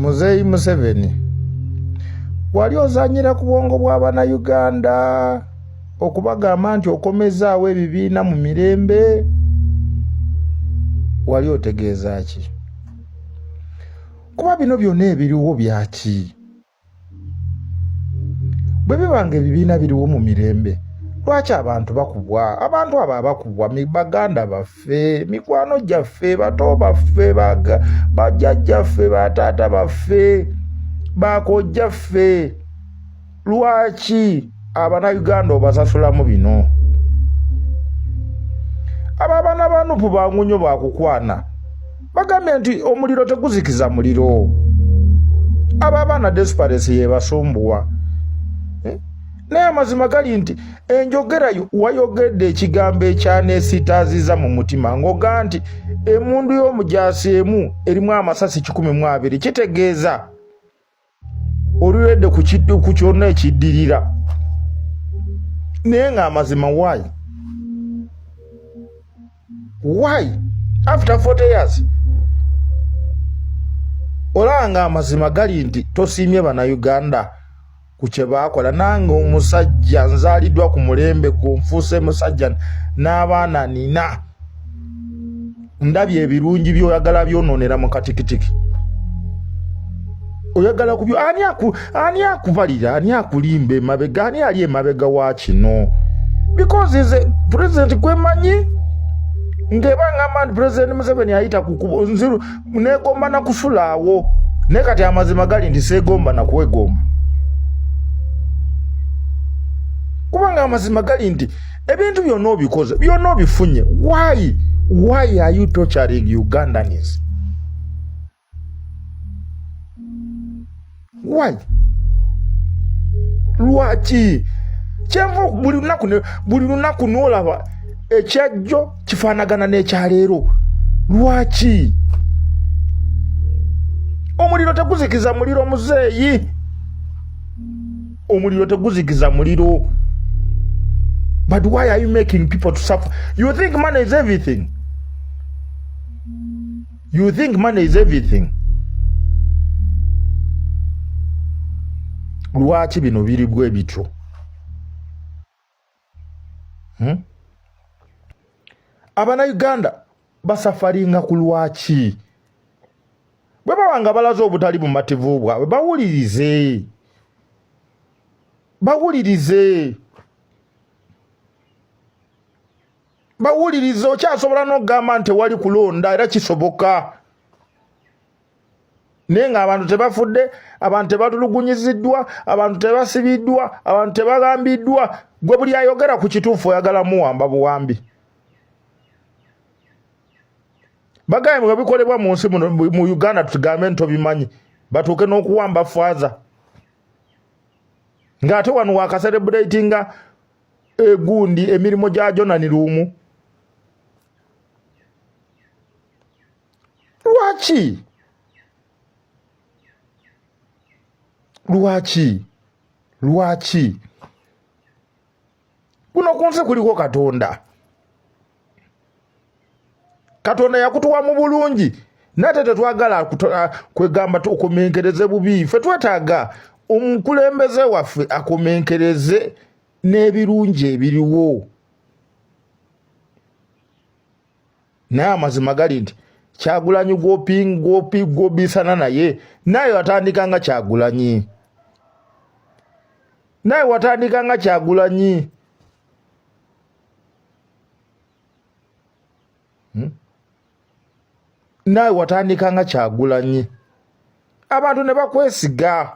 muzeeyi museveni wali ozanyira ku bwongo bw'abanauganda okubagamba nti okomezaawo ebibiina mu mirembe wali otegeeza ki kuba bino byonna ebiriwo byaki bwe biba nga ebibiina biriwo mu mirembe lwaki abantu bakubwa abantu abo abakubwa baganda baffe mikwano gyaffe bato baffe bajjajjaffe bataata baffe bakojjaffe lwaki abanauganda obasasulamu bino abo abaana banupu bangu nyo bakukwana bagambye nti omuliro teguzikiza muliro abo abaana desperesi yebasumbuwa eh? naye amazima gali nti enjogera wayogedde ekigambo ekyanesitaaziza mu mutima ng'oga nti emundu y'omujaasi emu erimu amasasi kikumi mu abiri kitegeeza oluwedde ku kyonna ekiddirira naye ng'amazima why why after 40 years olaba ng'amazima gali nti tosiimye bannayuganda ku kye baakola nange omusajja nzaaliddwa ku mulembe gwo nfuuse musajja n'abaana nina ndabye ebirungi byoyagala byononera mu katikitiki oyagala kubyo ani aku ani akubalira ani akulimba emabega ani ali emabega wa kino because is a president kwemanyi ngeba ngamba nti president museveni ayita kukubo nziru negomba nakufulaawo naye kati amazima gali nti segomba nakwegomba kubanga amazima gali nti ebintu byonna obikoze byonna obifunye why why are you torturing ugandans why lwaki kyenva buli lunaku buli lunaku nolaba ekyajjo kifaanagana n'ekyaleero lwaki omuliro teguzikiza muliro muzeeyi omuliro teguzikiza muliro but why are you making people to suffer you think money is everything you think money is everything lwaki bino biri bwe bityo hmm? abana uganda basafaringa ku lwaki bwe baba nga balaze obutali bumativu bwabwe bawulirize bawulirize bawulirize okyasobola n'okugamba nti wali kulonda era kisoboka naye ng'abantu tebafudde abantu tebatulugunyiziddwa abantu tebasibiddwa abantu tebagambiddwa gwe buli ayogera ku kituufu oyagala muwamba buwambi bagaye mwe bikolebwa mu nsi mu uganda tugambe nti obimanyi batuuke n'okuwamba faaza ng'ate wano wakaserebuletinga egundi emirimu gya jonani luumu lwaki lwaki lwaki kuno ku nsi kuliko katonda katonda yakutuwa mu bulungi nate tetwagala kwegamba tukomenkereze bubi fe twetaaga omukulembeze waffe akomenkereze n'ebirungi ebiriwo naye amazima gali nti kyagulanyi gwobisana naye naye watandika nga kyagulanyi naye watandika nga kyagulanyi hmm? naye watandika nga kyagulanyi abantu ne bakwesiga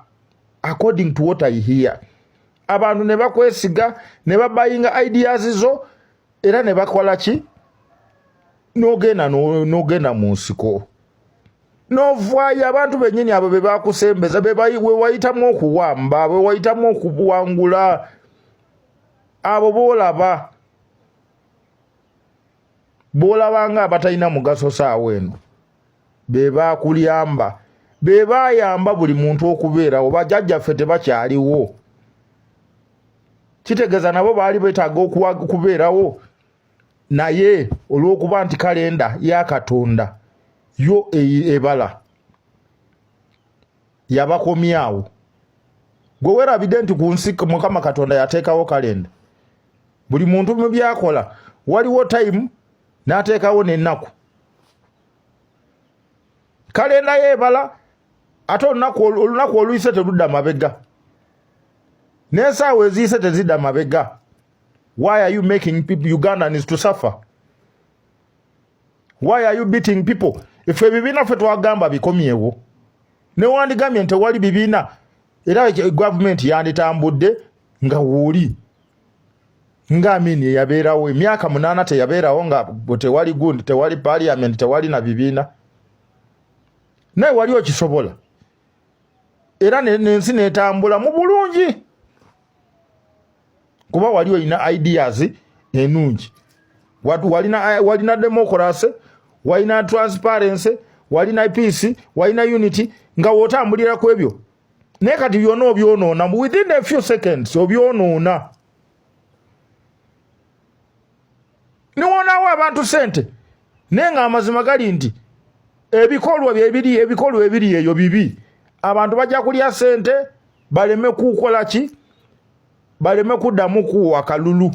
according to what i hear abantu ne bakwesiga ne babayinga ideas zo era ne bakola ki n'ogenda n'ogenda mu nsiko n'ovaayo abantu bennyini abo be bakusembeza be wayitamu okuwamba be wayitamu okuwangula abo boolaba boolaba nga abatalina mugaso saawa eno be baakulyamba be baayamba buli muntu okubeerawo bajjajjaffe tebakyaliwo kitegeeza nabo baali beetaaga okubeerawo naye olw'okuba nti kalenda ya katonda yo e-, ebala yabakomyawo gwe werabidde nti ku nsi mukama katonda yateekawo kalenda buli muntu mu byakola waliwo tayimu n'ateekawo n'ennaku kale naye ebala ate olunaku oluyise teludda mabega n'ensaawa eziyise tezidda mabega why are you making people ugandans to suffer why are you beating people efe ebibiina ffe twagamba bikomyewo newandigambye nti tewali bibiina era gavumenti yanditambudde nga wuuli nga amini eyabeerawo emyaka munaana teyabeerawo nga tewali gundi tewali parliament tewali na bibiina naye wali okisobola era nensi netambula mu bulungi kuba wali olina ideas enungi walina, walina democracy walina transparency walina peace walina unity nga wotambulira ku ebyo naye kati byona obyonoona within a few seconds obyonoona niwonawo abantu sente naye nga amazima gali nti ebikolwa byebiri ebikolwa ebiri eyo bibi abantu bajja kulya sente baleme kukola ki baleme kuddamu kuwa kalulu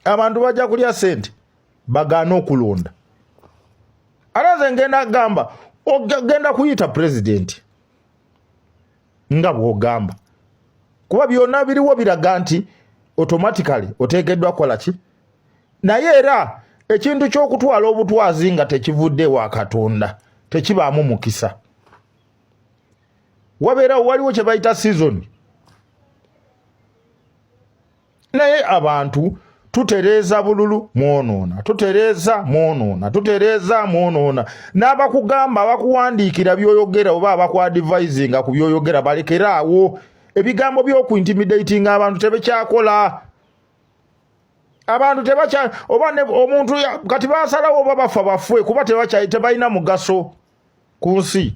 abantu bajja kulya sente bagaana okulonda ate nze ngenda gamba ogenda kuyita pulezidenti nga bwogamba kuba byonna biriwo biraga nti automatically oteekeddwa kukola ki naye era ekintu ky'okutwala obutwazi nga tekivudde wa katonda tekibaamu mukisa wabeerawo waliwo kye bayita sizoni naye abantu tutereeza bululu mwonoona tutereeza mwonoona tutereeza mwonoona n'abakugamba abakuwandiikira byoyogera oba abakwadivaizinga ku byoyogera balekeraawo ebigambo byokuintimidatinga abantu tebekyakola abantu tebakya oba omuntu kati basalawo oba bafa bafwe kuba tebalina mugaso ku nsi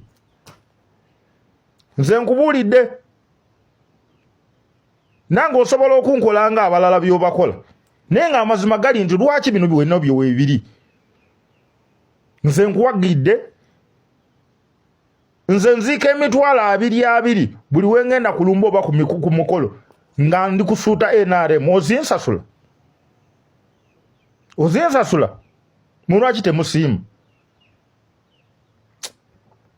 nze nkubuulidde nange osobola okunkola nga abalala byobakola naye nga amazima gali nti lwaki bino biwena byowebiri nze nkuwagidde nze nziika emitwalo abiri abiri buli wengenda kulumba oba ku mukolo nga ndi kusuuta nrm ozinsasula ozinsasula mulwaki temusiima